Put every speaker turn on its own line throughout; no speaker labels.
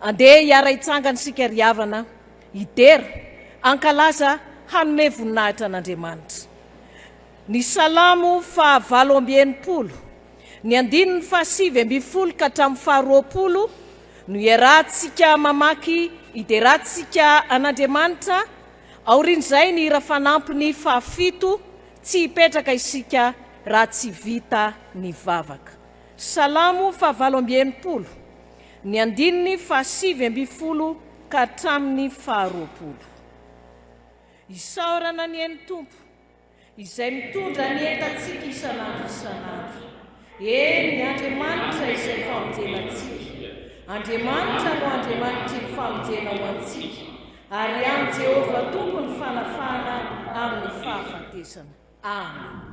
Andeha hiara-hitsangana isika ry havana, hidera, hankalaza, hanome voninahitra an'Andriamanitra. Ny Salamo faha valo amby enimpolo, ny andininy faha sivy ambin'ny folo ka hatramin'ny faha roapolo no iarahantsika mamaky hiderantsika an'Andriamanitra, aorian'izay ny hira fanampiny faha fito, tsy hipetraka isika raha tsy vita ny vavaka. Salamo faha valo amby enimpolo. Ny andininy fahasivy ambin'ny folo ka hatramin'ny faharoapolo. Isaorana anie ny Tompo, Izay mitondra ny entantsika isan'andro isan'andro. Eny, Andriamanitra izay famonjena antsika. Andriamanitra no Andriamanitr'iny famonjena ho antsika, ary ihany Jehovah Tompo ny fanafahana amin'ny fahafatesana. Amena.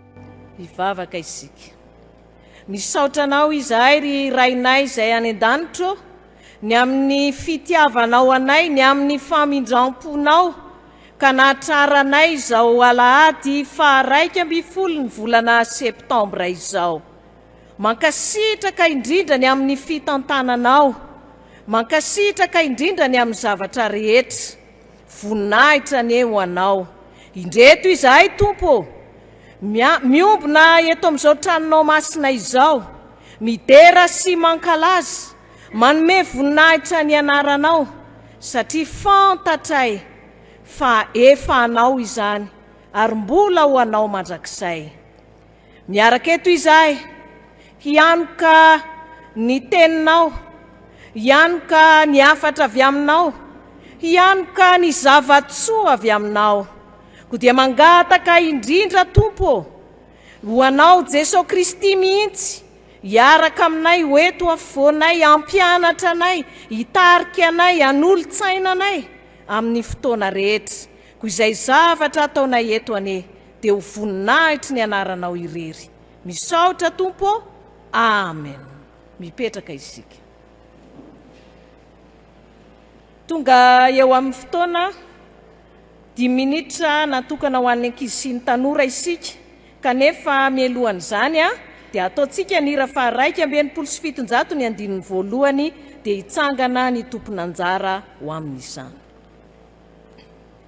Hivavaka isika. Misaotra Anao izahay, ry Rainay izay any an-danitra ô, ny amin'ny fitiavanao anay, ny amin'ny famindram-ponao, ka nahatraranay izao alahady faharaika ambin'ny folo ny volana septambra izao. Mankasitraka indrindra ny amin'ny fitantananao. Mankasitraka indrindra ny amin'ny zavatra rehetra. Voninahitra anie ho Anao. Indreto izahay, Tompo ô! Mia, miombona eto amin'izao Tranonao masina izao, midera sy mankalaza, manome voninahitra ny Anaranao, satria fantatray fa efa Anao izany, ary mbola ho Anao mandrakizay. Miaraka eto izahay hianoka ny teninao, hianoka ny hafatra avy aminao, hianoka ny zava-tsoa avy aminao. Koa dia mangataka indrindra Tompo ô, ho anao Jeso Kristy mihitsy, hiaraka aminay ho eto afovoanay, hampianatra anay, hitarika anay, hanolo-tsaina anay amin'ny fotoana rehetra. Koa izay zavatra ataonay eto anie, dia ho voninahitry ny anaranao irery. Misaotra Tompo ô! Amen. Mipetraka isika. Tonga eo amin'ny fotoana dimy minitra natokana ho an'ny ankizy sy ny tanora isika, kanefa mialohan'izany dia ataontsika ny hira faharaika amby enimpolo sy fitonjato ny andininy voalohany, dia hitsangana ny tompon'anjara ho amin'izany.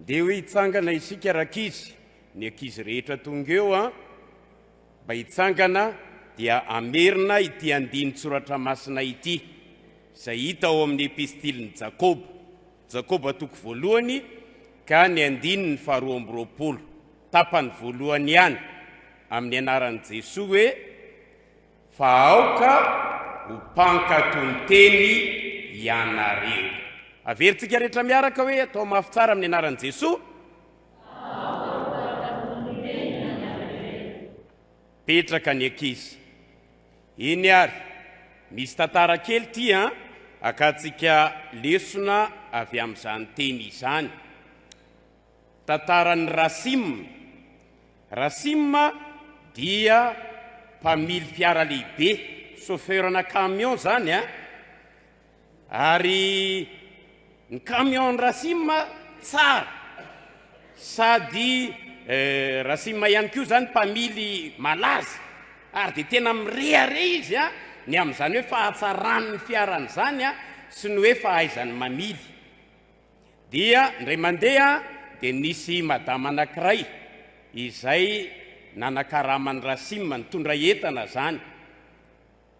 Ndeha hoe hitsangana isika rankizy, ny ankizy rehetra tonga eo an! Mba hitsangana dia hamerina ity andinin-tsoratra masina ity, izay hita ao amin'ny epistilin'i Jakoba, Jakoba toko voalohany ka ny andininy faharoa amby roapolo, tapany voalohany ihany, amin'ny anaran'i Jesoa hoe. Fa aoka ho mpankatò ny teny ianareo. Averintsika rehetra miaraka hoe, Atao mafy tsara amin'ny anaran'i Jesoa. Aoka ho mpankatò ny teny ianareo. Petraka ny ankizy. Eny ary, misy tantara kely ity an, akantsika lesona avy amin'izany teny izany. Tantaran'i Rasim Rasim dia mpamily fiara lehibe, chauffeur-na camion izany an! ary ny camion-n'i Rasim tsara sady Rasim ihany koa izany mpamily malaza ary dia tena mirehareha izy an! ny amin'izany hoe fahatsaran'ny fiarany izany an! sy ny hoe fahaizany mamily. Dia indray mandeha dia nisy madama anankiray izay nanakaraman'i Rasim nitondra entana zany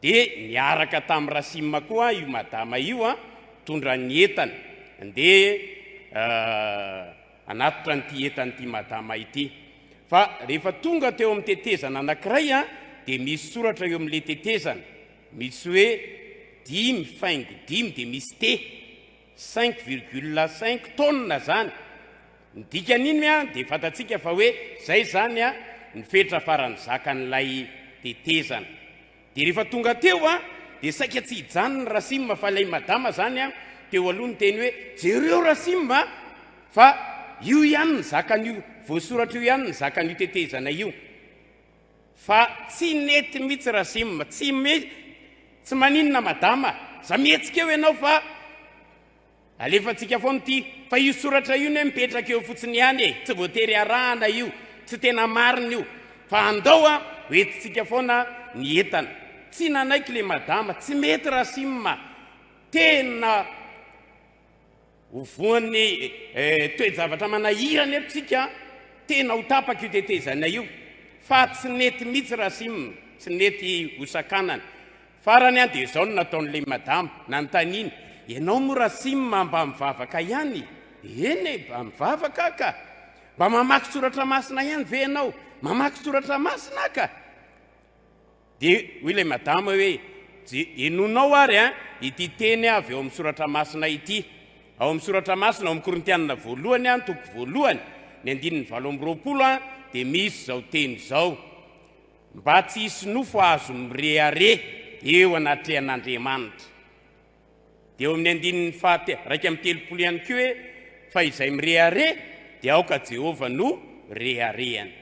dia niaraka tamin'i Rasim koa io madama io an, nitondra ny entany ndeha hanatitra an'ity entana ity madama ity. Fa rehefa tonga teo amin'ny tetezana anankiray an, dia misy soratra eo amin'ilay tetezana misy hoe dimy faingo dimy dia misy te. Cinq virgule cinq tonnes zany, ny dikan'iny an dia fantatsika fa hoe zay zany an ny fetra farany zakan'ilay tetezana. Dia rehefa tonga teo an dia saika tsy hijanona Rasim fa ilay madama zany an teo aloha niteny hoe jereo Rasim an fa io ihany ny zakan'io voasoratra io ihany ny zakan'io tetezana io. Fa tsy nety mitsy Razim. Tsy tsy maninona madama, za mihetsika eo ianao fa alefantsika foana ity, fa io soratra io ne mipetraka eo fotsiny ihany e, tsy voatery arahana io, tsy tena marina io, fa andao a, ho entintsika foana ny entana. Tsy nanaiky le madama, tsy mety Razim a, tena. Ho voan'ny toe-javatra manahirana eto isika, tena ho tapaka io tetezana io fa tsy nety mihitsy Rasim, tsy nety ho sakanana. Farany dia izao no nataon'ilay madama, nanontaniany, ianao moa Rasim mba mivavaka ihany? Eny e, mba mivavaka aho ka. Mba mamaky soratra masina ihany ve ianao? Mamaky soratra masina aho ka. Dia hoy ilay madama hoe, Je, henonao ary an, ity teny avy ao amin'ny Soratra Masina ity. Ao amin'ny Soratra Masina, ao amin'ny Korintianina Voalohany an, toko voalohany, ny andininy valo amby roapolo an, dia misy izao teny izao, Mba tsy hisy nofo azo mirehareha eo anatrehan'Andriamanitra. Dia ao amin'ny andininy fahate, iraika amby telopolo ihany koa hoe, Fa izay mirehareha, dia aoka Jehovah no reharehany.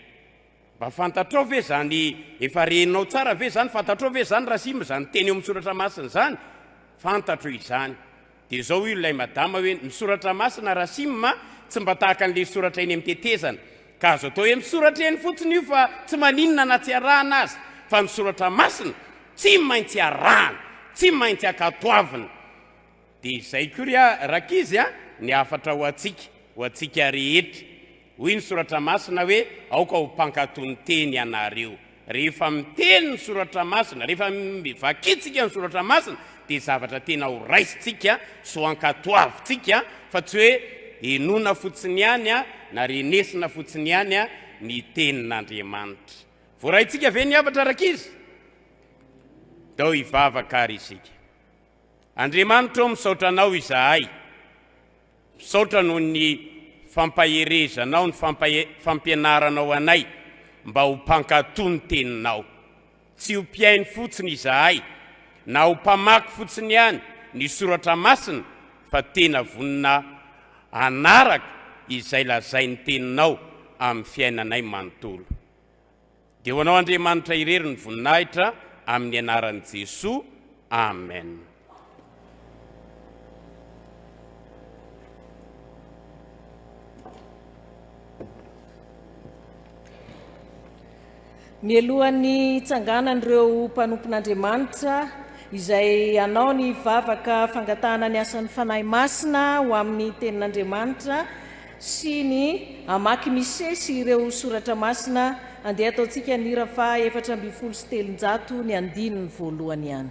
Mba fantatrao ve izany, efa renao tsara ve izany, fantatrao ve izany Rasim izany teny eo amin'ny soratra masina izany? Fantatro izany. Dia izao hoy ilay madama hoe, ny soratra masina Rasim a, tsy mba tahaka an'ilay soratra eny amin'ny tetezana, ka azo atao hoe misoratra eny fotsiny io fa tsy maninona na tsy arahana aza, fa ny soratra masina tsy maintsy arahana, tsy maintsy ankatoavina. Dia izay koa ry rankizy a, ny hafatra ho antsika, ho antsika rehetra. Hoy ny Soratra Masina hoe, Aoka ho mpankato ny teny ianareo. Rehefa miteny ny Soratra Masina, rehefa vakintsika ny Soratra Masina, dia zavatra tena ho raisintsika sy ho ankatoavintsika, fa tsy hoe henoina fotsiny ihany na renesina fotsiny ihany ny Tenin'Andriamanitra. Voaraintsika ve ny hafatra rankizy? Ndao hivavaka àry isika. Andriamanitra o misaotra anao izahay misaotra noho ny fampaherezanao ny fampianaranao anay mba ho mpankato ny teninao tsy ho mpihaino fotsiny izahay na ho mpamaky fotsiny ihany ny soratra masina fa tena vonona hanaraka izay lazain'ny teninao amin'ny fiainanay manontolo Dia ho anao Andriamanitra irery ny voninahitra amin'ny anaran'i Jesoa Amen.
Mialohan'ny hitsanganan'ireo mpanompon'Andriamanitra izay hanao ny vavaka fangatahana ny asan'ny Fanahy Masina ho amin'ny Tenin'Andriamanitra sy ny hamaky mise sy ireo soratra masina, andeha ataontsika ny hira faha efatra ambin'ny folo sy telonjato ny andininy voalohany ihany.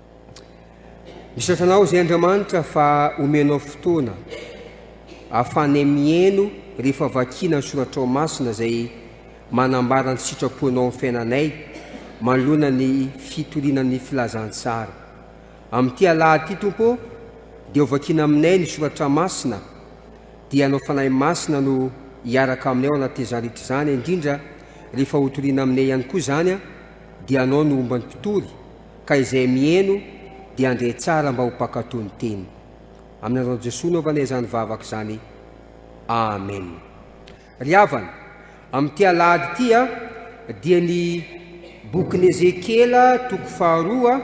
Misaotra anao izay Andriamanitra fa omenao fotoana ahafanay mihaino rehefa vakiana ny soratrao masina izay manambara ny sitraponao amin'ny fiainanay manoloana ny fitoriana ny filazantsara. Amin'ity alahady ity Tompo dia hovakiana aminay ny soratra masina dia anao Fanahy Masina no hiaraka aminay ao anatin'izany rehetra izany indrindra rehefa hotoriana aminay ihany koa izany dia anao no homban'ny mpitory Ka izay miheno dia handre tsara mba ho mpankatò ny teny. Amin'ny anar'i Jesoa naovana izany vavaka izany. Amen. Ry havana, amin'ity alahady ity dia ny bokin'i Ezekiela toko faharoa,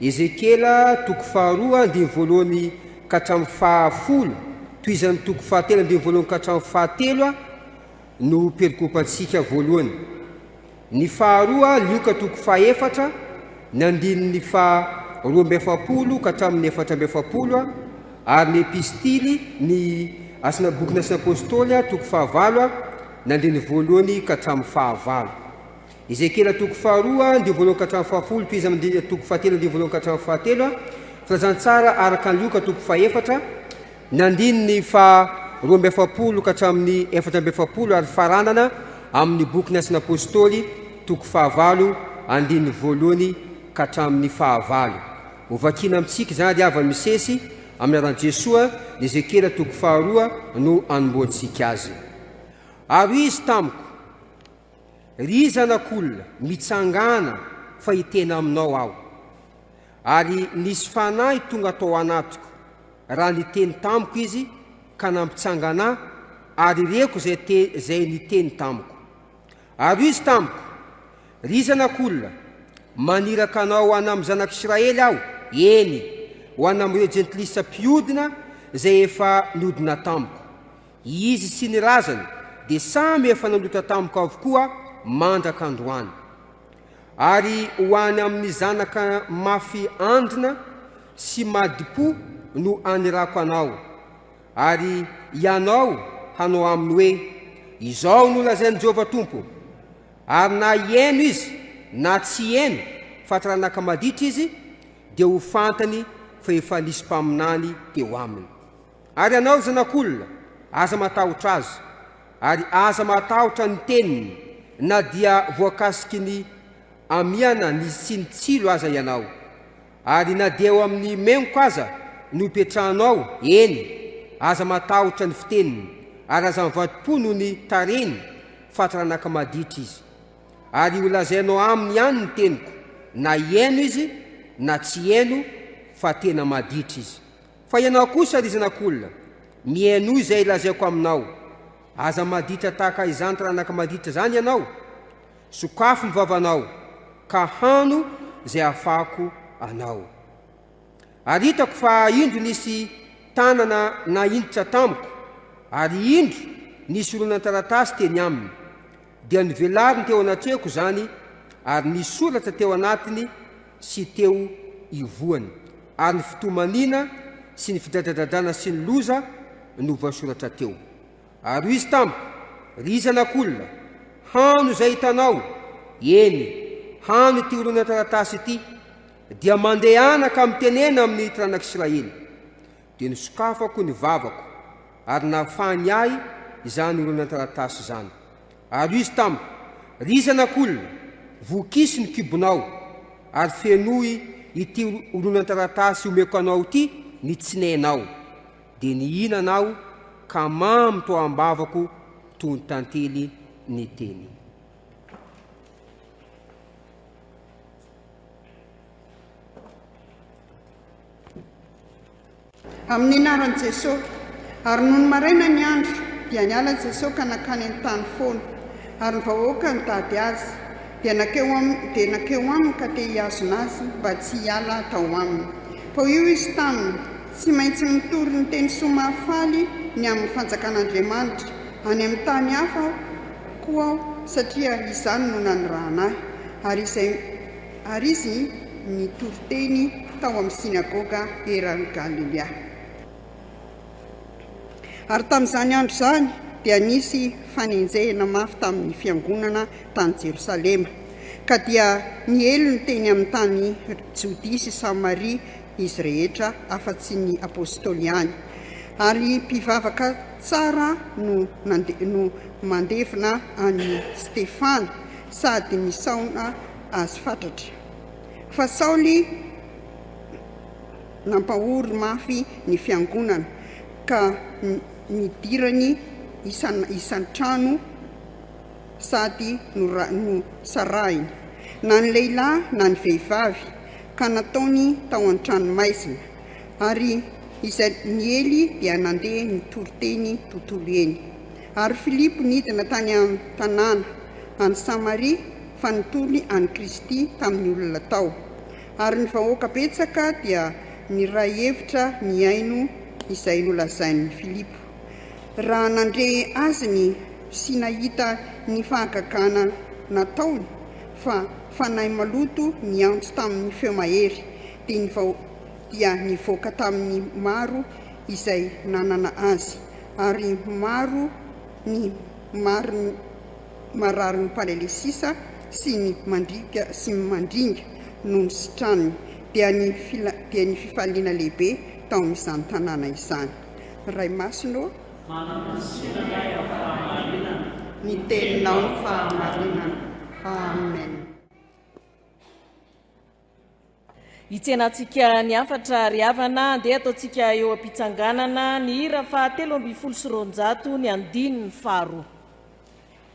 Ezekiela toko faharoa andininy voalohany ka hatramin'ny fahafolo, tohizan'ny toko fahatelo andininy voalohany ka hatramin'ny fahatelo no perikopantsika voalohany. Ny faharoa, lioka toko fahefatra, ny andininy faha roa amby efapolo ka hatramin'ny efatra amby efapolo, ary ny epistily, ny asina boky nasin'ny apostoly, toko fahavalo, ny andininy voalohany ka hatramin'ny fahavalo. Ezekiela toko faharoa andinin'ny voalohany ka hatramin'ny fahafolo, toy izy amin'ny toko fahatelo andinin'ny voalohany ka hatramin'ny fahatelo, filazantsara araka ny lioka toko fahefatra, Ny andininy faha roa amby efapolo ka hatramin'ny efatra amby efapolo ary faranana amin'ny bokin'ny Asan'ny Apôstôly, toko fahavalo, andininy voalohany ka hatramin'ny fahavalo. Hovakina amintsika izany ry havany misesy, amin'ny anaran'i Jesoa, ny Ezekiela toko faharoa no anombohantsika azy. Ary hoy izy tamiko, Ry zanak'olona, mitsangàna, fa hiteny aminao Aho. Ary nisy fanahy tonga tao anatiko. raha niteny tamiko izy ka nampitsangana ahy ary reko izay te, izay niteny tamiko. Ary izy tamiko, Ry zanak'olona, maniraka anao ho an'amin'ny zanak'Israely aho, eny, ho an'amin'ireo jentilisa mpiodina izay efa niodina tamiko. Izy sy ny razany dia samy efa nanota tamiko avokoa mandraka androany. Ary ho any amin'ny zanaka mafy andrina sy madi-po no anirako anao. Ary ianao hanao aminy hoe, Izao no lazain'i Jehovah Tompo, Ary na hieno izy na tsy hieno fa taranaka maditra izy, dia ho fantany fa efa nisy mpaminany teo aminy. Ary ianao zanak'olona, aza matahotra azy, ary aza matahotra ny teniny, na dia voakasiky ny amiana ny sy ny tsilo aza ianao, ary na dia eo amin'ny mengoka aza no ipetrahanao, eny, aza matahotra ny fiteniny, ary aza mivadim-po noho ny tarehiny, fa taranaka maditra izy. Ary holazainao aminy ihany ny teniko, na hihaino izy na tsy hihaino, fa tena maditra izy. Fa ianao kosa, ry zanak'olona, mihainoa izay lazaiko aminao, aza maditra tahaka izany taranaka maditra izany ianao, sokafo ny vavanao, ka hano izay hafahako anao. Ary hitako fa indro nisy tanana nahintotra tamiko, ary indro nisy horonantaratasy teny aminy. Dia novelariny teo anatrehako izany ary nisy soratra teo anatiny sy teo ivohany, ary ny fitomaniana sy ny fidradradradrana sy ny loza no voasoratra teo. Ary hoy izy tamiko, Ry zanak'olona, hano izay hitanao, eny, hano ity horonan-taratasy ity, dia mandehana ka mitenena amin'ny tranak'Israely. Dia nisokafako ny vavako, ary nahafahany ahy izany horonan-taratasy izany. Ary izy tamiko, Ry zanak'olona, vokiso ny kibonao, ary fenoy ity horonan-taratasy omeko anao ity ny tsinenao. Dia nihinana aho, ka mamy tao am-bavako toy ny tantely ny teniny.
Amin'ny anaran'i Jesosy. Ary nony maraina ny andro, dia niala Jesosy ka nankany an-tany foana. Ary ny vahoaka nitady Azy, dia nankeo Aminy, dia nankeo Aminy ka te hihazona Azy mba tsy hiala tao Aminy. Fa hoy Izy taminy, Tsy maintsy mitory ny teny soa mahafaly ny amin'ny fanjakan'Andriamanitra. Any amin'ny tany hafa Aho. koa aho, satria izany no nanirahana ahy, ary izay ary izy nitory teny tao amin'ny synagoga eran'i Galilea. Ary tamin'izany andro izany dia nisy fanenjehina mafy tamin'ny fiangonana tany Jerosalema, ka dia niely ny teny amin'ny tany Jodia sy Samaria izy rehetra afa-tsy ny Apôstôly ihany, ary mpivavaka tsara no no mandevina an'i Stefana sady nisaona azy fatratra. Fa Saoly nampahory mafy ny fiangonana ka nidirany isan-trano, sady nosarahiny na ny lehilahy na ny vehivavy ka nataony tao an-tranomaizina, ary izay niely dia nandeha nitory teny tontolo eny. Ary Filipo nidina tany an-tanàna any Samaria fa nitory an'i Kristy tamin'ny olona tao, ary ny vahoaka betsaka dia niray hevitra ny hihaino izay nolazain'i Filipo. raha nandre azy ny sy nahita ny fahagagana nataony fa fanahy maloto niantso tamin'ny feo mahery dia nivao dia nivoaka tamin'ny maro izay nanana azy ary maro ny mari mararin'ny paralesisa sy ny mandringa sy mandringa no nisitrany dia ny dia ny fifaliana lehibe tao amin'izany tanàna izany. Ray Masina ô! Manam-bosina ny ahy amin'ny fahamarinana. Ny Teninao no fahamarinana. Amen.
Hitsena antsika ny hafatra ry havana andeha ataontsika eo am-pitsanganana ny hira faha telo ambin'ny folo sy roanjato ny andininy faharoa.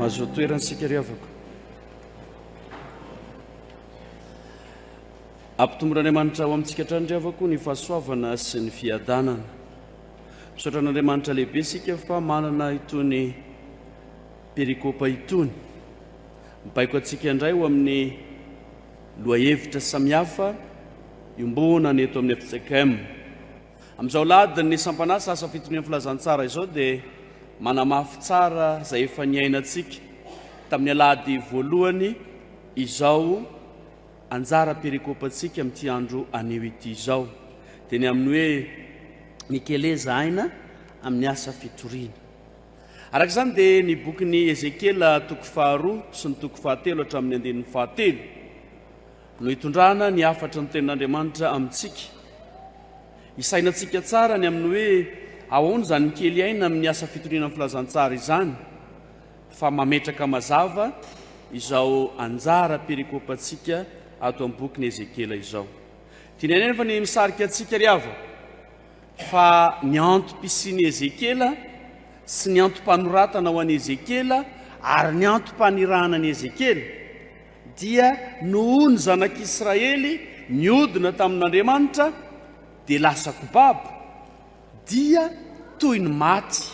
Mazoa toerana isika ry havako. Ampitomboin'Andriamanitra ao amintsika hatrany ry havako ny fahasoavana sy ny fiadanana. Misaotra an'Andriamanitra lehibe isika fa manana itony perikopa itony. Mibaiko antsika indray ho amin'ny Lohahevitra samihafa iombonana ny eto amin'ny fjkm. Amin'izao alahadiny ny sampan'asa asa fitonian'ny filazantsara izao dia manamafy tsara izay efa niainantsika tamin'ny alahady voalohany izao anjara perikopantsika amin'ity andro anio ity izao dia ny amin'ny hoe mikeleza aina amin'ny asa fitoriana. Araka izany dia ny bokin'i Ezekiela toko faharoa sy ny toko fahatelo hatramin'ny andininy fahatelo no hitondrana ny hafatry ny tenin'Andriamanitra amintsika. Hisainantsika tsara ny amin'ny hoe ahoana izany mikely aina amin'ny asa fitoriana ny filazantsara izany fa mametraka mazava izao anjara perikopantsika ato amin'ny bokin'i Ezekiela izao. Tianay anefa ny misarika antsika ry havana. Fa ny antom-pisian'i Ezekiela sy ny antom-panoratana ho an'i Ezekiela ary ny antom-panirahana an'i Ezekiela, dia noho ny zanak'Israely niodina tamin'Andriamanitra dia lasa kobabo, dia toy ny maty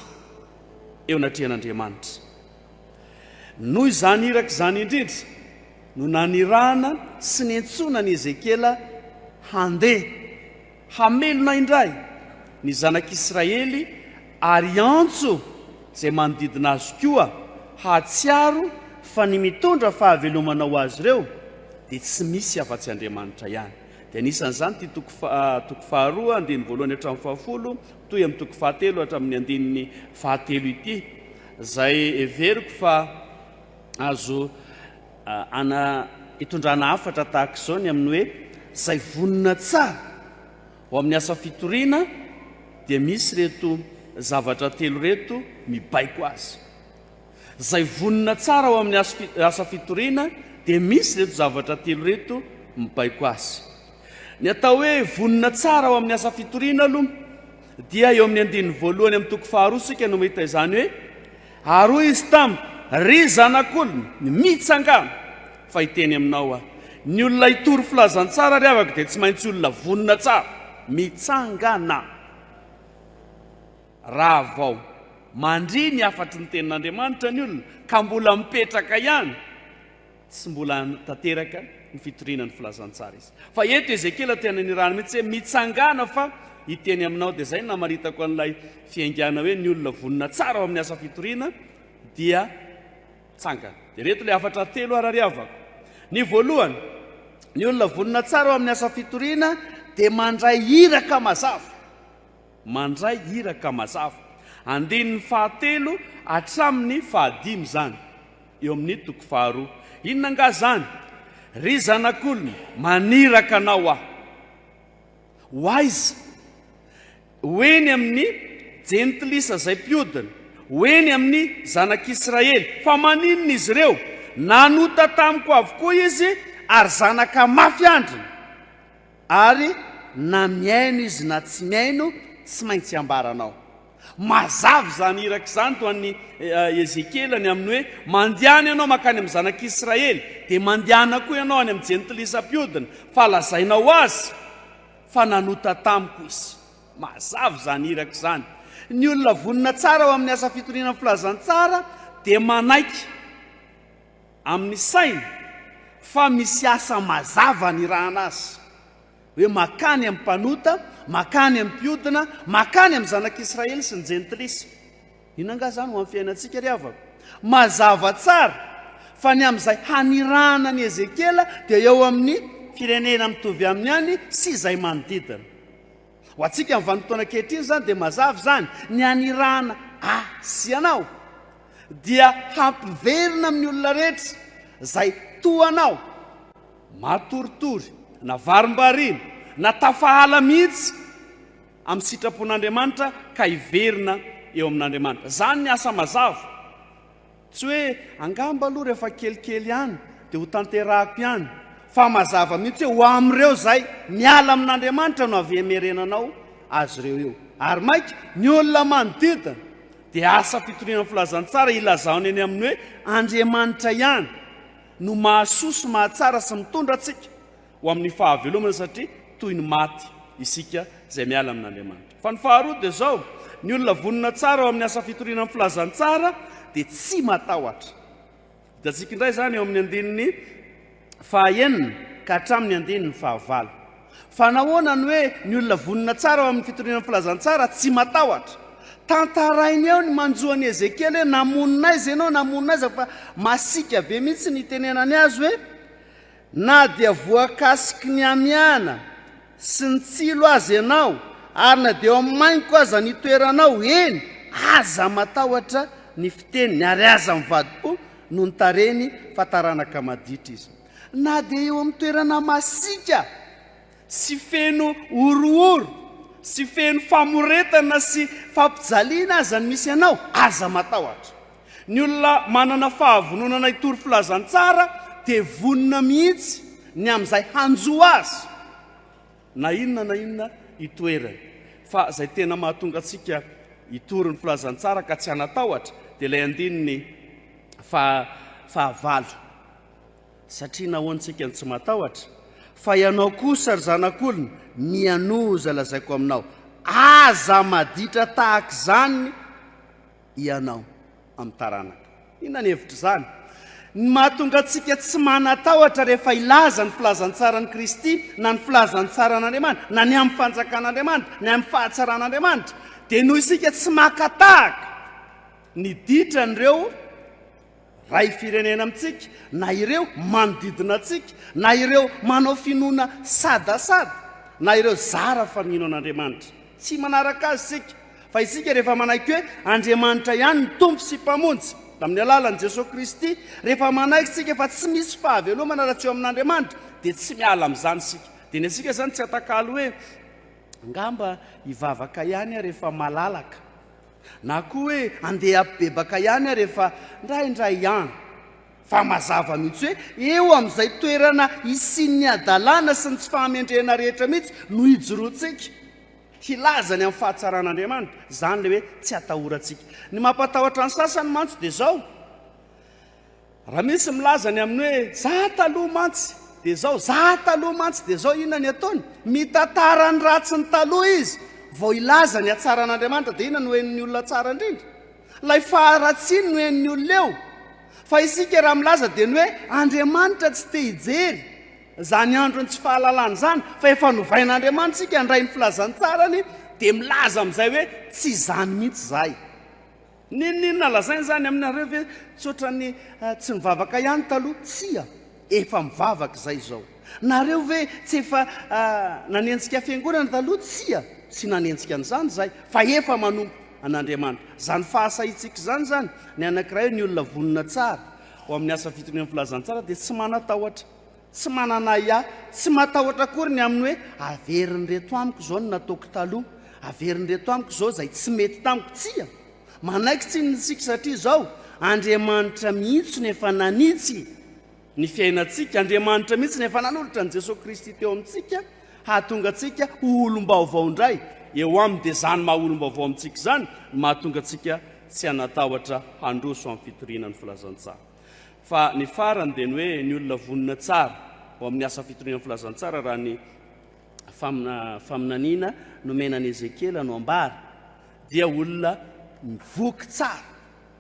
eo anatrehan'Andriamanitra. Noho izany iraka izany indrindra no nanirahana sy niantsoana an'i Ezekiela handeha Hamelona indray ny zanak'Israely ary hiantso izay manodidina azy koa hahatsiaro fa ny mitondra fahavelomana ho azy ireo dia tsy misy afa-tsy Andriamanitra ihany. Dia anisan'izany ity toko toko faharoa andininy voalohany hatramin'ny fahafolo, mitohy amin'ny toko fahatelo hatramin'ny andininy fahatelo ity, izay heveriko fa azo Ana hitondrana hafatra tahaka izao ny amin'ny hoe izay vonona tsara ho amin'ny asa fitoriana dia misy ireto zavatra telo ireto mibaiko azy. Izay vonona tsara ho amin'ny asa fitoriana dia misy ireto zavatra telo ireto mibaiko azy. Ny atao hoe vonona tsara ho amin'ny asa fitoriana aloha dia eo amin'ny andininy voalohany amin'ny toko faharoa isika no mahita izany hoe Ary hoy izy taminy, Ry zanak'olona, mitsangàna, fa hiteny aminao aho. Ny olona hitory filazantsara ry havako dia tsy maintsy olona vonona tsara. Mitsangàna! Raha vao mandria ny hafatry ny tenin'Andriamanitra ny olona, ka mbola mipetraka ihany, Tsy mbola tanteraka ny fitoriana ny filazantsara izy. Fa eto Ezekiela te hananirana mihitsy hoe mitsangàna fa hiteny aminao. Dia izay no namaritako an'ilay fiaingàna hoe ny olona vonona tsara ao amin'ny asa fitoriana dia tsangana. Dia ireto ilay hafatra telo arariavako. Ny voalohany, ny olona vonona tsara ao amin'ny asa fitoriana dia mandray iraka mazava. Mandray iraka mazava. Andininy fahatelo hatramin'ny fahadimy izany. Eo amin'ny toko faharoa. Inona angaha izany? Ry zanak'olona, maniraka anao aho. Ho aiza? Ho eny amin'ny Jentilisa izay mpiodina, ho eny amin'ny zanak'Israely. Fa maninona izy ireo? Nanota tamiko avokoa izy, ary zanaka mafy andriny. Ary na mihaino izy na tsy mihaino, tsy maintsy ambaranao. Mazava izany iraka izany tao amin'ny Ezekiela ny amin'ny hoe, Mandehana ianao mankany amin'ny zanak'Israely, dia mandehana koa ianao any amin'ny jentilisa mpiodina, fa lazainao azy fa nanota tamiko izy. Mazava izany iraka izany. Ny olona vonona tsara ho amin'ny asa fitoriana ny filazantsara dia manaiky amin'ny sainy fa misy asa mazava anirahana azy, hoe makany amin'ny mpanota, makany amin'ny mpiodina, makany amin'ny zanak'Israely sy ny jentilisa. Inona angaha izany ho amin'ny fiainantsika ry havako? Mazava tsara fa ny amin'izay hanirahana an'i Ezekiela dia eo amin'ny firenena mitovy aminy ihany sy izay manodidina. Ho antsika amin'ny vanim-potoana ankehitriny izany dia mazava izany, ny hanirahana ahy sy ianao dia hampiverina amin'ny olona rehetra izay toa anao, matoritory na varimbariana na tafahala mihitsy amin'ny sitrapon'Andriamanitra ka hiverina eo amin'Andriamanitra. Izany ny asa mazava. Tsy hoe angamba aloha rehefa kelikely ihany dia ho tanterahako ihany, fa mazava mihitsy hoe ho amin'ireo izay miala amin'Andriamanitra no avy hemerenanao azy ireo io. Ary maika ny olona manodidina dia asa fitoriana ny filazantsara ilazany eny amin'ny hoe Andriamanitra ihany no mahasoa sy mahatsara sy mitondra antsika, ho amin'ny fahavelomana satria toy ny maty isika izay miala amin'Andriamanitra. Fa ny faharoa dia izao, ny olona vonona tsara ao amin'ny asa fitoriana ny filazantsara dia tsy matahotra. Hitantsika indray izany eo amin'ny andininy fahaenina ka hatramin'ny andininy fahavalo. Fa nahoana ny hoe ny olona vonona tsara ao amin'ny fitoriana ny filazantsara tsy matahotra? Tantarainy eo ny manjo an'i Ezekiela hoe namonina aiza ianao, namonina aiza fa masiaka be mihitsy ny itenenany azy hoe Na dia voakasiky ny amiana sy ny tsilo aza ianao, ary na dia eo mainko aza ny toeranao, eny, aza matahotra ny fiteniny, ary aza mivadi-po noho ny tarehiny, fa taranaka maditra izy. Na dia eo amin'ny toerana masiaka, Tsy feno horohoro sy feno famoretana sy fampijaliana aza ny misy anao, aza matahotra. Ny olona manana fahavononana hitory filazantsara dia vonona mihitsy ny amin'izay hanjo azy na inona na inona itoerany. Fa izay tena mahatonga antsika hitory ny filazantsara ka tsy hanatahotra dia ilay andininy faha fahavalo. Satria nahoana isika no tsy matahotra? Fa ianao kosa, ry zanak'olona, mianoa izay lazaiko aminao, aza maditra tahaka izany ianao amin'ny taranaka. Inona ny hevitr'izany? Ny mahatonga antsika tsy manatahotra rehefa hilaza ny filazantsaran'i Kristy, na ny filazantsaran'Andriamanitra, na ny amin'ny fanjakan'Andriamanitra, ny amin'ny fahatsaran'Andriamanitra, dia noho isika tsy maka tahaka ny ditran'ireo Ray firenena amintsika, na ireo manodidina antsika, na ireo manao finoana sadasada, na ireo zara fa mino an'Andriamanitra. Tsy manaraka azy isika, fa isika rehefa manaiky hoe Andriamanitra ihany ny Tompo sy Mpamonjy, tamin'ny alalan'i Jesoa Kristy, rehefa manaiky isika fa tsy misy fahavelomana raha tsy eo amin'Andriamanitra, dia tsy miala amin'izany isika. Dia ny antsika izany tsy atakalo hoe, angamba hivavaka ihany aho rehefa malalaka, Na koa hoe andeha habebaka ihany ary efa indraindray ihany. Fa mazava mihitsy hoe eo amin'izay toerana isian'ny hadalana sy ny tsy fahamendrehana rehetra mihitsy no ijoroantsika hilaza ny amin'ny fahatsaran'Andriamanitra. Izany ilay hoe tsy atahorantsika. Ny mampatahotra ny sasany mantsy dia izao. Raha misy milaza ny amin'ny hoe za taloha mantsy dia zao, za taloha mantsy dia zao, inona ny ataony? Mitantara ny ratsin'ny taloha izy vao hilaza ny hatsaran'Andriamanitra. Dia inona no henon'ny olona tsara indrindra? Ilay faharatsiany no henon'ny olona eo. Fa isika raha milaza dia ny hoe Andriamanitra tsy te hijery izany andron'ny tsy fahalalana izany fa efa novain'Andriamanitra isika handray ny filazantsarany dia milaza amin'izay hoe tsy izany mihitsy izahay. N'inon'inona lazaina izany aminareo ve tsotra ny tsy nivavaka ihany taloha? Tsia, efa mivavaka izay izao. Nareo ve tsy efa nanenjika fiangonana taloha? Tsia, tsy nanenjika an'izany izahay, fa efa manompo an'Andriamanitra. Izany fahasahiantsika izany izany, ny anankiray, ny olona vonona tsara ho amin'ny asa fitorian'ny filazantsara dia tsy manatahotra Tsy manana ahiahy, tsy matahotra akory ny amin'ny hoe averin'ireto amiko izao ny nataoko taloha, averin'ireto amiko izao izay tsy mety tamiko. Tsia, manaiky tsiny ny tsika satria izao, Andriamanitra mihitsy no efa nanitsy ny fiainantsika, Andriamanitra mihitsy no efa nanolotra an'i Jesoa Kristy teo amintsika hahatonga antsika ho olom-baovao indray eo Aminy, dia izany maha olom-baovao amintsika izany no mahatonga antsika tsy hanatahotra handroso amin'ny fitoriana ny filazantsara. Fa ny farany dia ny hoe ny olona vonona tsara ao amin'ny asa fitorian'ny filazantsara raha ny faminaniana nomena an'i Ezekiela no ambara dia olona mivoky tsara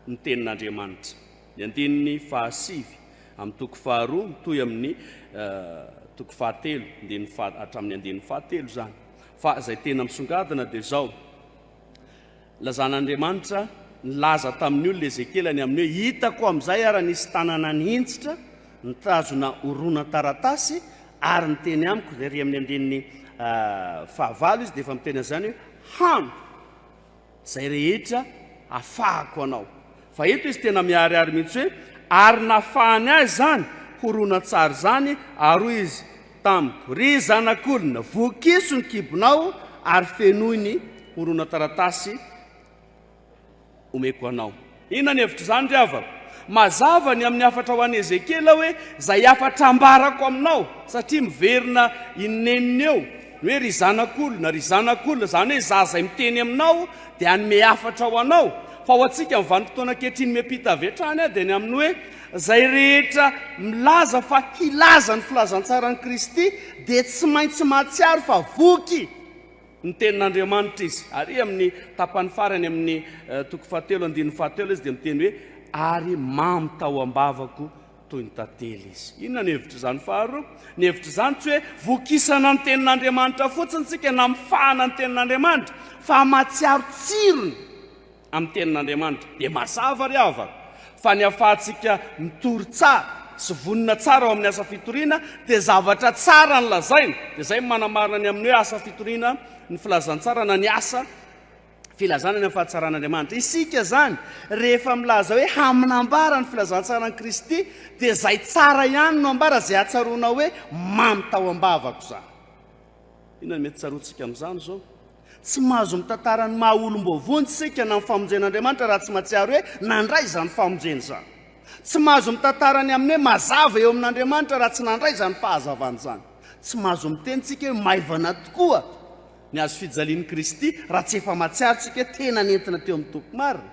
ny tenin'Andriamanitra. Ny andininy fahasivy amin'ny toko faharoa mitohy amin'ny uh, toko fahatelo, hatramin'ny andininy fahatelo izany. Fa izay tena misongadina dia izao, Lazan'Andriamanitra nilaza tamin'ny olona Ezekiela ny amin'ny hoe hitako amin'izay ary nisy tanana nihintsitra nitazona horonan-taratasy ary niteny amiko dia ry amin'ny andininy ah, fahavalo izy dia efa miteny an'izany hoe hano izay rehetra afahako anao Fa eto izy tena miharihary mihitsy hoe, Ary nafahany ahy izany horonantsary izany, ary hoy izy tamiko, Ry zanak'olona, vokiso ny kibonao ary fenoy ny horonan-taratasy omeko anao. Inona ny hevitr'izany ry havako? Mazava ny amin'ny hafatra ho an'i Ezekiela hoe, Izay hafatra ambarako aminao, satria miverina i neniny eo. Ny hoe ry zanak'olona, ry zanak'olona, izany hoe izaho izay miteny aminao dia hanome hafatra ho anao. Fa ho antsika amin'ny vanim-potoana ankehitriny miampita avy hatrany aho dia ny amin'ny hoe izay rehetra milaza fa hilaza ny filazantsaran'i Kristy dia tsy maintsy mahatsiaro fa voky ny tenin'Andriamanitra izy. Ary amin'ny tapany farany amin'ny eh, toko fahatelo andininy fahatelo izy dia miteny hoe ary mamy tao am-bavako Toy ny tantely izy. Inona ny hevitr'izany? Faharoa, ny hevitr'izany tsy hoe vokisana ny Tenin'Andriamanitra fotsiny isika na mifahana ny Tenin'Andriamanitra, fa mahatsiaro tsirony amin'ny Tenin'Andriamanitra. Dia mazava ry havana, fa ny hahafahantsika mitory tsara sy vonona tsara ao amin'ny asa fitoriana, dia zavatra tsara no lazaina. Dia izay no manamarina ny amin'ny hoe asa fitoriana ny Filazantsara na ny asa. Filazana ny amin'ny fahatsaran'Andriamanitra. Isika izany, rehefa milaza hoe haminambara ny filazantsaran'i Kristy, dia izay tsara ihany no ambara, izay atsaroana hoe mamy tao am-bavako izany. Inona no mety tsaroantsika amin'izany izao? Tsy mahazo mitantara ny maha olom-boavonjy isika na ny famonjen'Andriamanitra raha tsy mahatsiaro hoe nandray izany famonjena izany. Tsy mahazo mitantara ny amin'ny hoe mazava eo amin'Andriamanitra raha tsy nandray izany fahazavana izany. Tsy mahazo miteny isika hoe maivana tokoa Ny hazo fijalian'i Kristy, raha tsy efa mahatsiaro tsika tena nentina teo amin'ny toby marina,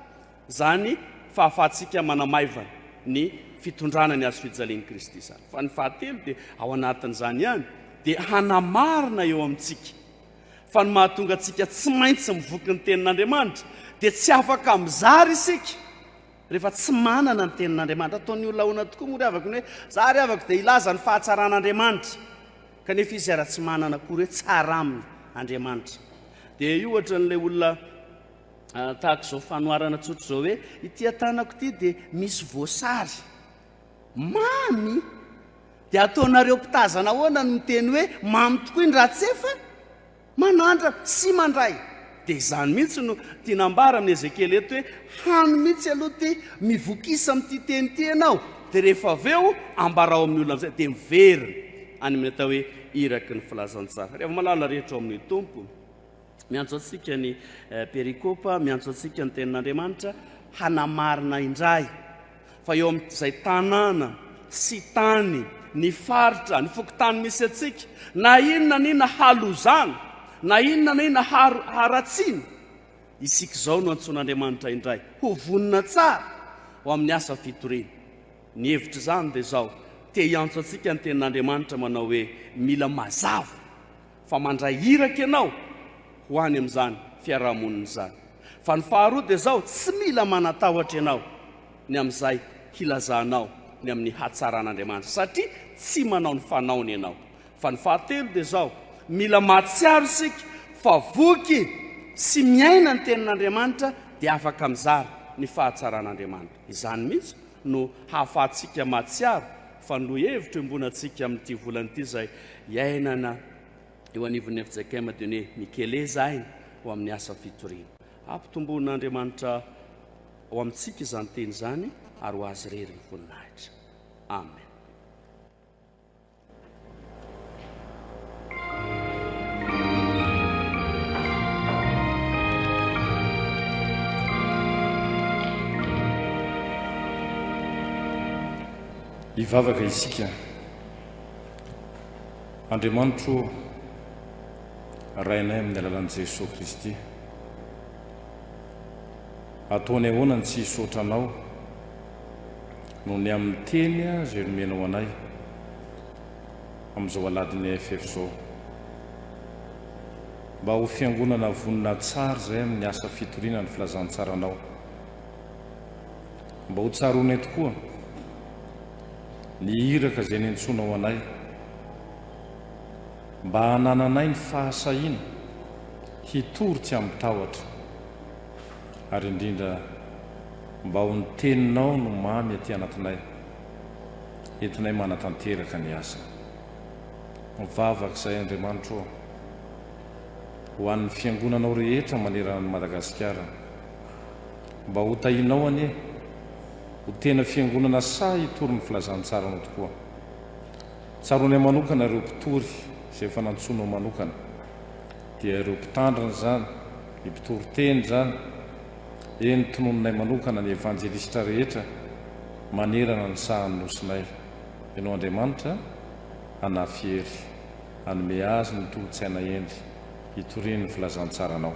izany fahafahantsika manamaivana ny fitondrana ny hazo fijalian'i Kristy izany. Fa ny fahatelo dia ao anatin'izany ihany dia hanamarina eo amintsika fa ny mahatonga antsika tsy maintsy mivoky ny tenin'Andriamanitra dia tsy afaka mizara isika rehefa tsy manana ny tenin'Andriamanitra. Ataon'ny olona ahoana tokoa moa ry havako ny hoe za ry havako dia hilaza ny fahatsaran'Andriamanitra? Kanefa izy ara tsy manana akory hoe tsara aminy Andriamanitra. Dia io ohatran'ilay olona tahaka izao fanoharana tsotra izao hoe ity atanako ity dia misy voasary. Mamy! Dia ataonareo mpitazana ahoana ny miteny hoe mamy tokoa i Ndratsefa? Manandra sy mandray. Dia izany mihitsy no tiana ambara amin'i Ezekiela eto hoe, hany mihitsy aloha ity, mivokisa amin'ity teny ity ianao, dia rehefa avy eo ambarao amin'ny olona amin'izay, dia miverina any amin'ny atao hoe iraky ny filazantsara. Ry hava-malala rehetra ao amin'ny Tompo, miantso antsika ny perikopa, miantso antsika ny Tenin'Andriamanitra hanamarina indray fa eo amin' izay tanàna sy tany, ny faritra, ny fokontany misy antsika, na inona na inona halozana, na inona na inona haro haratsiana, isika izao no antsoin' Andriamanitra indray ho vonona tsara ho amin' ny asa fitoriana. Ny hevitr' izany dia izao, te hiantso antsika ny tenin' Andriamanitra manao hoe, Mila mazava. fa mandray iraka ianao ho any amin'izany fiaraha-monina izany, fa ny faharoa dia izao, tsy mila manatahotra ianao ny amin'izay hilazanao ny amin'ny hatsaran'Andriamanitra, satria tsy manao ny fanaony ianao, fa ny fahatelo dia izao, mila mahatsiaro isika fa voky sy miaina ny tenin'Andriamanitra dia afaka mizara ny fahatsaran'Andriamanitra, izany mihitsy no hahafahantsika mahatsiaro fa ny lohahevitra iombonantsika amin'ity volana ity izay iainana eo anivon'ny FJKM dia ny mikeleza aina ho amin'ny asa fitoriana. Hampitomboan'Andriamanitra ao amintsika izany teny izany ary ho azy irery ny voninahitra. Amen.
Hivavaka isika. Andriamanitro ô, Rainay amin'ny alalan'i Jesoa Kristy, ataonay ahoana ny tsy hisaotra Anao noho ny amin'ny teny izay nomenao anay, amin'izao aladin'ny AFF izao. Mba ho fiangonana vonona tsara izay amin'ny asa fitoriana ny filazantsaranao. Mba ho tsaroanay tokoa ny iraka izay niantsoanao anay. Mba hanananay ny fahasahiana hitory tsy amin-tahotra. Ary indrindra, mba ho ny Teninao no mamy aty anatinay. entinay manatanteraka ny asa. Mivavaka izahay Andriamanitra ô, ho an'ny Fiangonanao rehetra manerana an'i Madagasikara, mba ho tahinao anie ho tena Fiangonana sahy hitory ny Filazantsaranao tokoa. Tsaroanay manokana ireo mpitory izay efa nantsoinao manokana, dia ireo mpitandrina izany, ny mpitoriteny izany, Eny, tononinay manokana ny Evanjelistra rehetra manerana ny sahan'ny nosinay. Ianao Andriamanitra, hanafy hery, hanome azy ny tolo-tsaina eny, hitoriany ny filazantsaranao.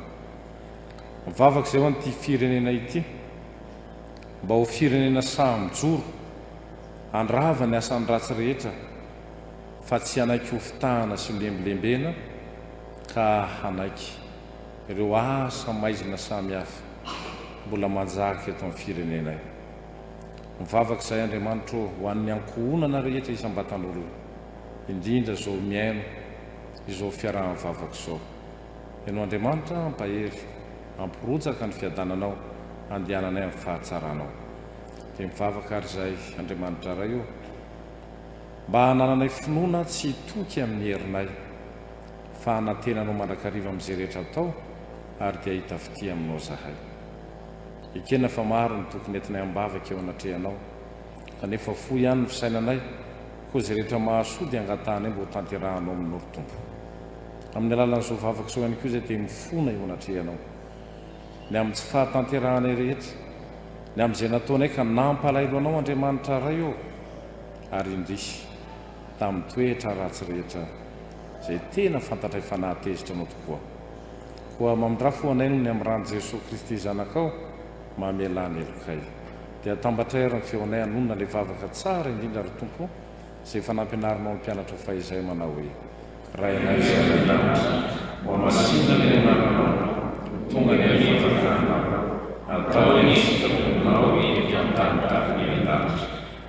Mivavaka izay ho an'ity firenena ity, mba ho firenena sahy mijoro, handrava ny asan'ny ratsy rehetra, fa tsy hanaiky hofitahana sy holembilembena, ka hanaiky. ireo asa maizina samy hafa mbola manjaka eto amin'ny firenenay. Mivavaka izahay Andriamanitra ô ho an'ny ankohonana rehetra isam-batan'olona, indrindra izao mihaino izao fiaraha-mivavaka izao. Enao Andriamanitra hampahery, hampirotsaka ny fiadananao handehananay amin'ny fahatsaranao. Dia mivavaka ary izahay Andriamanitra Ray ô mba hanananay finoana tsy hitoky amin'ny herinay. Fa hanantena anao mandrakariva amin'izay rehetra atao, ary dia hahita fitia aminao izahay. Ekena fa maro ny tokony entinay am-bavaka eo anatrehanao, kanefa fohy ihany ny fisainanay, koa izay rehetra mahasoa dia angatahanay mba hotanterahanao aminao, ry Tompo. Amin'ny alalan'izao vavaka izao ihany koa izay dia mifona eo anatrehanao, ny amin'ny tsy fahatanterahanay rehetra, ny amin'izay nataonay ka nampalahelo anao, Andriamanitra Ray ô! Ary indrisy. tamin'ny toetra ratsy rehetra izay tena fantatray fa nahatezitra anao tokoa. Koa mamindrà fo anay noho ny amin'ny ran'i Jesoa Kristy Zanakao mamelà ny helokay. Dia atambatray ary ny feonay hanonona ilay vavaka tsara indrindra ry Tompo izay efa nampianarinao ny mpianatrao fahizay manao hoe, Rainay izay any an-danitra, hohamasinina ny anaranao, ho tonga ny fifanjakanao, atao ny sitraponao ety an-tany tahaka ny an-danitra.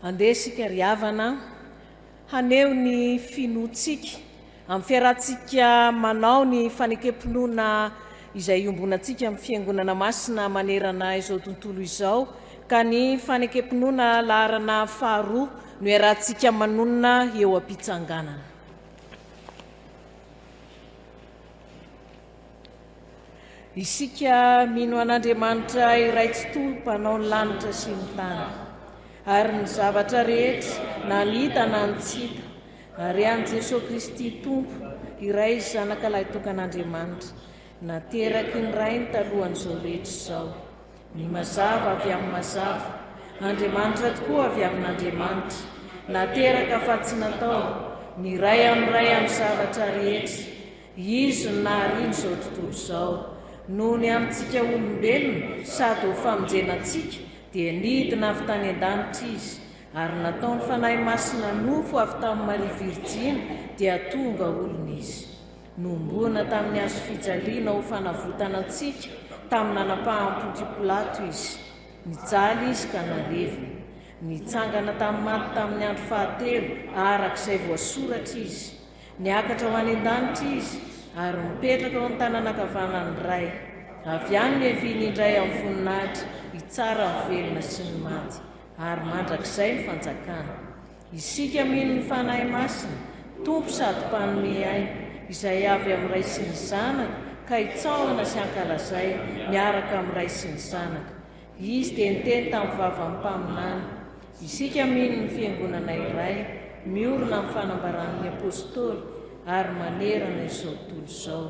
Andeha isika ry havana haneho ny finoantsika amin'ny fiarahantsika manao ny fanekem-pinoana izay iombonantsika amin'ny Fiangonana Masina manerana izao tontolo izao ka ny fanekem-pinoana laharana faharoa no iarahantsika manonona eo am-pitsanganana. Isika mino an'Andriamanitra iray tsitoha mpanao ny lanitra sy ny tany ary ny zavatra rehetra na ny hita na ny tsy hita ary an'i Jesoa Kristy Tompo iray zanaka lahitokan'Andriamanitra nateraky ny Rainy talohan'izao rehetra izao ny mazava avy amin'ny mazava Andriamanitra tokoa avy amin'Andriamanitra nateraka fa tsy natao ny Ray amin'ny Ray amin'ny zavatra rehetra Izy no nahariana izao tontolo izao. Noho ny amintsika olombelona sady ho famonjena antsika dia nidina avy tany an-danitra Izy, ary nataon'ny Fanahy Masina nofo avy tamin'i Maria Virjiny dia tonga olona Izy. Nohomboana tamin'ny hazo fijaliana ho fanavotana antsika tamin'ny nanapaham-pon'Ky Pilato Izy. Nijaly Izy ka nalevina. Nitsangana tamin'ny maty tamin'ny andro fahatelo araka izay voasoratra Izy. Niakatra ho any an-danitra Izy, ary mipetraka eo amin'ny tanana ankavanan'ny Ray. Avy any no hiaviany indray amin'ny voninahitra hitsara ny velona sy ny maty, ary mandrakizay ny Fanjakana. Isika mino ny Fanahy Masina, Tompo sady Mpanome aina, Izay avy amin'ny Ray sy ny Zanaka, ka hitsaohana sy hankalazay miaraka amin'ny Ray sy ny Zanaka. Izy dia niteny tamin'ny vavan'ny mpaminany. Isika mino ny Fiangonana iray, miorina amin'ny fanambaran'ny Apostoly, ary manerana izao tontolo izao.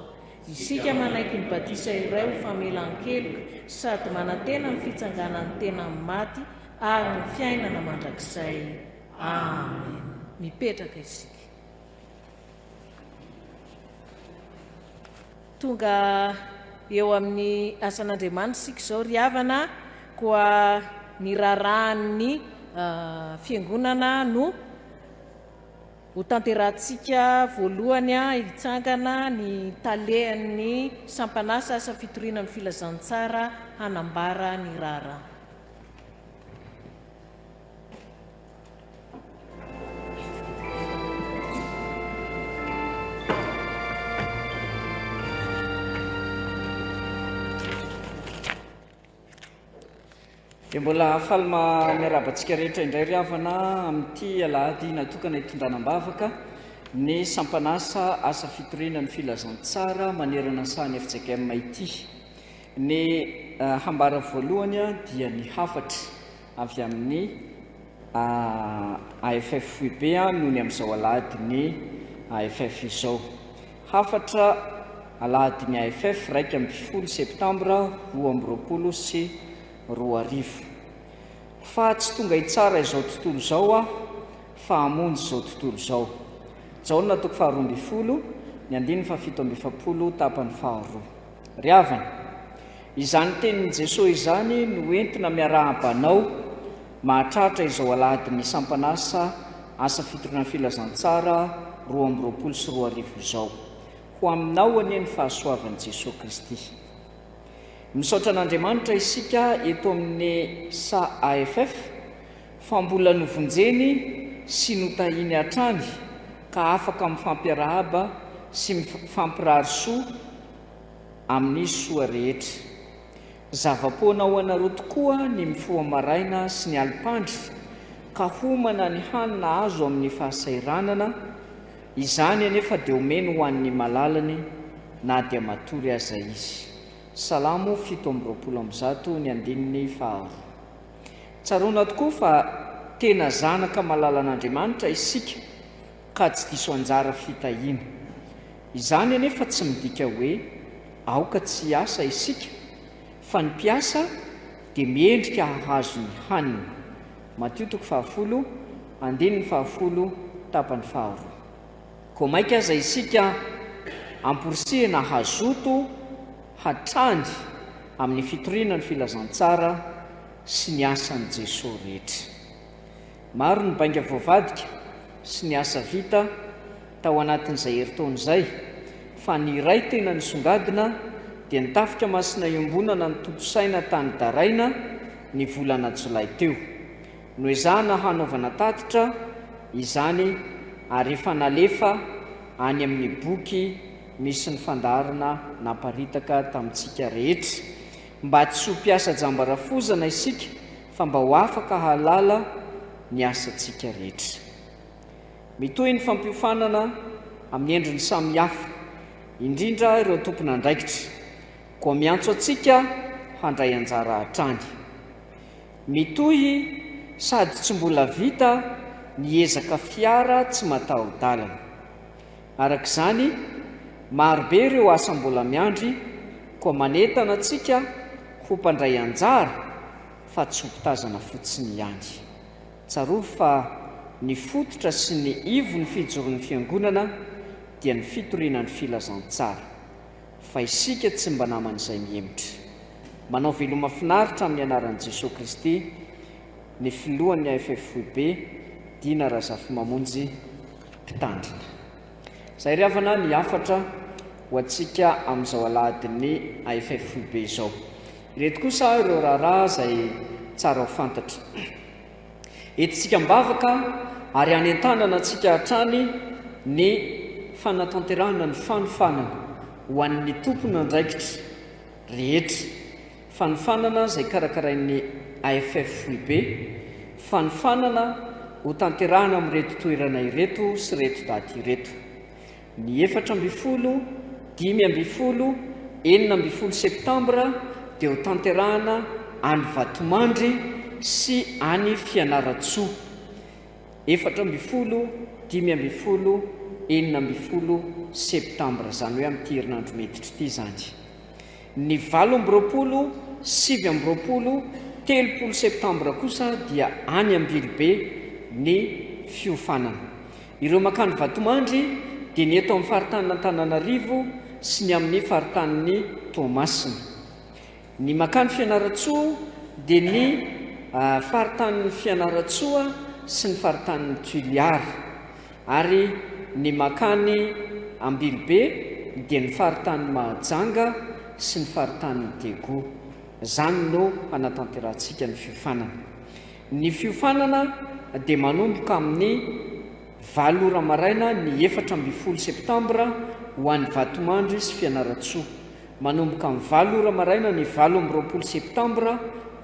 Isika manaiky ny batisa iray ho famelan-keloka sady manantena ny fitsanganan'ny tena amin'ny maty ary ny fiainana mandrakizay. Amen. Mipetraka isika. Tonga eo amin'ny asan'Andriamanitra isika izao ry havana a! Koa ny raharahan'ny Fiangonana no hotanterahantsika voalohany a! Hitsangana ny Talen'ny Sampan'asa Asa Fitoriana amin'ny Filazantsara hanambara ny raharaha.
Dia mbola faly miarahaba antsika rehetra indray ry havana amin'ity alahady natokana hitondrana am-bavaka ny sampanasa asa fitoriana ny filazantsara manerana ny sahan'ny FJKM ity. Ny eh, hambara voalohany dia ny hafatra avy amin'ny AFFUB noho ny amin'izao alahadin'ny AFF izao. Hafatra alahadin'ny AFF iraika ambin'ny folo septambra roa amby roapolo sy roa arivo. Fa tsy tonga hitsara izao tontolo izao aho fa hamonjy izao tontolo izao. Jaona toko faharoa ambin'ny folo, ny andininy fahafito amby efapolo tapany faharoa. Ry havana, izany tenin'i Jesoa izany no entina miarahaba anao mahatratra izao alahadin'ny sampan'asa Asa Fitoriana Filazantsara roa amby roapolo sy roa arivo izao. Ho aminao anie ny fahasoavan'i Jesoa Kristy. Misaotra an'Andriamanitra isika eto amin'ny SAAFF, fa mbola novonjeny sy notahiny hatrany ka afaka mifampiarahaba sy mifampirary soa amin'ny soa rehetra. Zava-poana ho anareo tokoa ny mifoha maraina sy ny alim-pandry ka homana ny hanina azo amin'ny fahasahiranana, izany anefa dia omeny ho an'ny malalany na dia matory aza izy. Salamo fito amby roapolo amby zato ny andininy faharoa. Tsaroana tokoa fa tena zanaka malalan'Andriamanitra isika ka tsy diso anjara fitahiana. Izany anefa tsy midika hoe aoka tsy hiasa isika, fa ny mpiasa dia miendrika hahazo ny haniny. Matio toko fahafolo, andininy fahafolo, tapany faharoa. Koa maika aza isika amporisihina hazoto hatrany amin'ny fitoriana ny filazantsara sy ny asan'i Jesoa rehetra. Maro ny bainga voavadika sy ny asa vita tao anatin'izay herintaona izay, fa ny iray tena nisongadina dia ny Tafika Masina Iombonana nitontosaina tany Daraina ny volana jolay teo. Noezahana hanaovana tatitra izany ary efa nalefa any amin'ny boky misy ny fandaharana naparitaka tamintsika rehetra. Mba tsy ho mpiasa jamba rafozana isika fa mba ho afaka hahalala ny asantsika rehetra. Mitohy ny fampiofanana amin'ny endriny samihafa, indrindra ireo tompon'andraikitra. Koa miantso antsika handray anjara hatrany. Mitohy sady tsy mbola vita ny ezaka fiara tsy mataho-dalana. Araka izany, marobe ireo asa mbola miandry koa manentana antsika ho mpandray anjara fa tsy ho mpitazana fotsiny ihany. Tsarovy fa ny fototra sy ny ivon'ny fijoron'ny Fiangonana dia ny fitoriana ny filazantsara. Fa isika tsy mba naman'izay mihemotra. Manao veloma finaritra amin'ny anaran'i Jesoa Kristy ny filohan'ny AFFWB, Dina Razafimamonjy, Mpitandrina. Izay ry havana ny hafatra ho antsika amin'izao alahadin'ny AFFWB izao. Ireto kosa ireo raharaha izay tsara ho fantatra. Entintsika am-bavaka ary anentanana antsika hatrany ny fanatanterahana ny fanofanana ho an'ny tompon'andraikitra rehetra, fanofanana izay karakarain'ny AFF Foibe, fanofanana hotanterahina amin'ireto toerana ireto sy ireto daty ireto, ny efatra ambin'ny folo, dimy ambin'ny folo, enina ambin'ny folo septambra dia hotanterahina any Vatomandry sy any Fianarantsoa. Efatra ambin'ny folo, dimy ambin'ny folo, enina ambin'ny folo septambra, izany hoe amin'ity herinandro miditra ity izany. Ny valo amby roapolo, sivy amby roapolo, telopolo septambra kosa dia any Ambilobe ny fiofanana. Ireo mankany Vatomandry dia ny eto amin'ny faritanin'Antananarivo sy ny amin'ny faritanin'i Toamasina. Ny Makany Fianarantsoa dia ny faritanin'i Fianarantsoa sy ny faritanin'i Toliara, ary ny Makany Ambilobe dia ny faritanin'i Mahajanga sy ny faritanin'i Daegu. Izany no hanatanterahantsika ny fiofanana. Ny fiofanana dia manomboka amin'ny valo ora maraina ny efatra ambin'ny folo septambra ho an'i Vatomandry sy Fianarantsoa. Manomboka amin'ny valo ora maraina ny valo amby roapolo septambra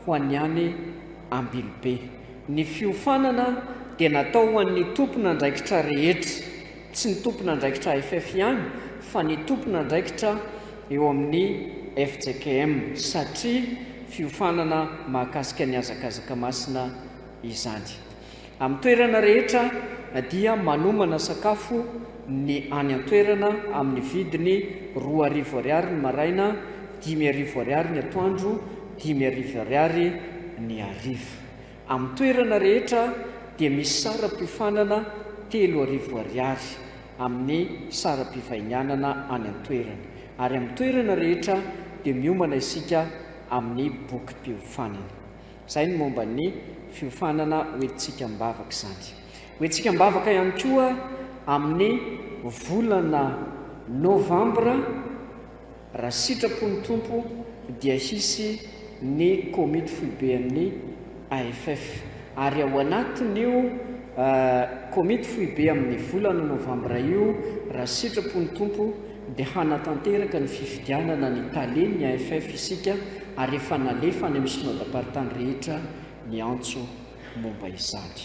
ho an'ny any Ambilobe. Ny fiofanana dia natao ho an'ny tompon'andraikitra rehetra, tsy ny tompon'andraikitra AFF ihany fa ny tompon'andraikitra eo amin'ny fjkm satria fiofanana mahakasika ny hazakazaka masina izany. Amin'ny toerana rehetra dia manomana sakafo ny any an-toerana amin'ny vidiny roa arivo ariary ny maraina, dimy arivo ariary ny atoandro, dimy arivo ariary ny hariva. Amin'ny toerana rehetra dia misy saram-piofanana telo arivo ariary amin'ny saram-pivahinianana any an-toerana ary amin'ny toerana rehetra dia miomana isika amin'ny bokim-piofanana. Izay ny momba ny fiofanana hoentintsika am-bavaka izany. Hoentintsika am-bavaka ihany koa amin'ny volana Novambra raha sitrapon'ny Tompo dia hisy ny komity foiben'ny AFF ary ao anatin'io komity foibe amin'ny volana Novambra io raha sitrapon'ny Tompo dia hanatanteraka ny fifidianana ny Tale ny AFF isika ary efa nalefa any amin'ny Synodamparitany rehetra ny antso momba izany.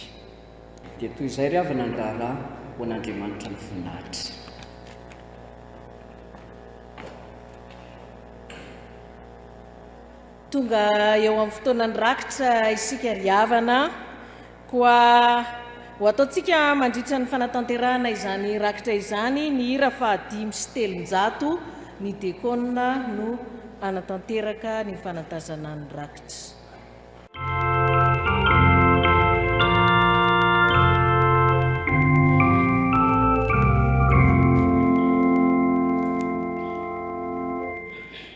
Dia toy izay ry havana ny raharaha ho an'Andriamanitra ny voninahitra.
Tonga eo amin'ny fotoanan'ny rakitra isika ry havana, koa ho ataontsika mandritra ny fanatanterahana izany rakitra izany ny hira fahadimy sy telonjato, ny dekona no hanatanteraka ny fanatazana ny rakitra.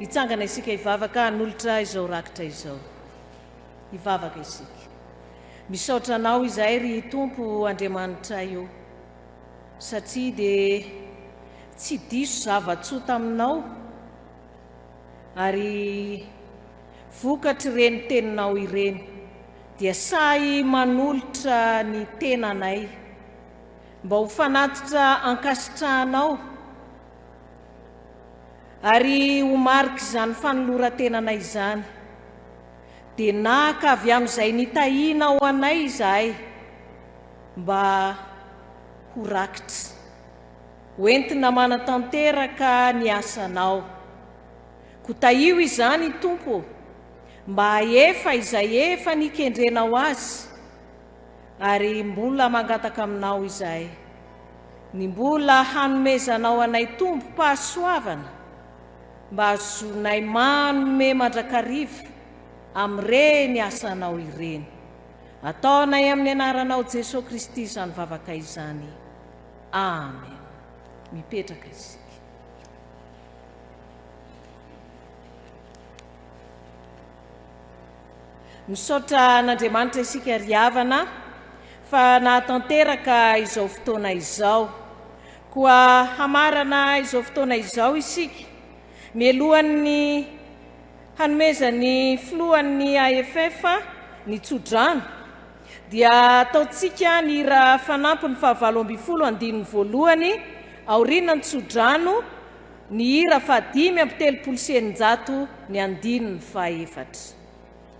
Hitsangana isika hivavaka hanolotra izao rakitra izao. Hivavaka isika. Misaotra Anao izahay ry Tompo Andriamanitray ô, satria dia tsy diso zava-tsoa taminao, ary vokatr'ireny Teninao ireny dia sahy manolotra ny tenanay mba ho fanatitra ankasitrahanao Ary ho marik'izany fanoloran-tenanay izany, dia naka avy amin'izay nitahianao anay izahay, mba ho rakitra, hoentina manatanteraka ny asanao. Koa tahio izany, Tompo ô, mba hahefa izay efa nikendrenao azy, Ary mbola mangataka aminao izahay ny mbola hanomezanao anay tombom-pahasoavana mba hazonay manome mandrakariva amin'ireny asanao ireny. Ataonay amin'ny anaranao Jesoa Kristy izany vavaka izany. Amen. Mipetraka isika. Misaotra an'Andriamanitra isika ry havana fa nahatanteraka izao fotoana izao. Koa hamarana izao fotoana izao isika mialohan'ny hanomezan'ny filohan'ny AFF ny tsodrano dia ataontsika ny hira fanampiny fahavalo ambin'ny folo andininy voalohany aorianan'ny tsodrano Ny hira fahadimy amby telopolo sy eninjato ny andininy fahaefatra.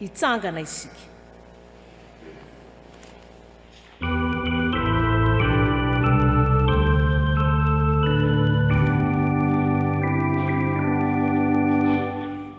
Hitsangana isika.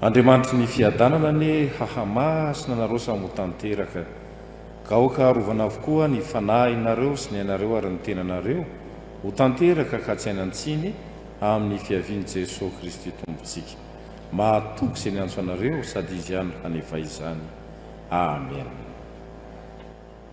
Andriamanitry ny fiadanana anie hahamaha sy nanarosany ho tanteraka. Gaoka arovana avokoa ny fanahin areo sy ny ainareo ary ny tenanareo ho tanteraka ka tsy hanan-tsiny amin'ny fiavian'i Jesoa Kristy Tompontsika. Mahatoky izay niantso anareo sady Izy ihany no hanefa izany. Amen.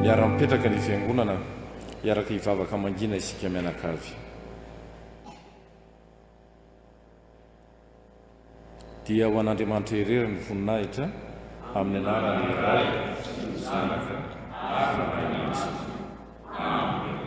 Miara-mipetraka ny Fiangonana, hiaraka hivavaka mangina isika mianakavy. Dia ho an'Andriamanitra irery ny voninahitra, amin'ny anaran'ny Ray sy ny Zanaka ary ny Ray Aman-tsika. Amena.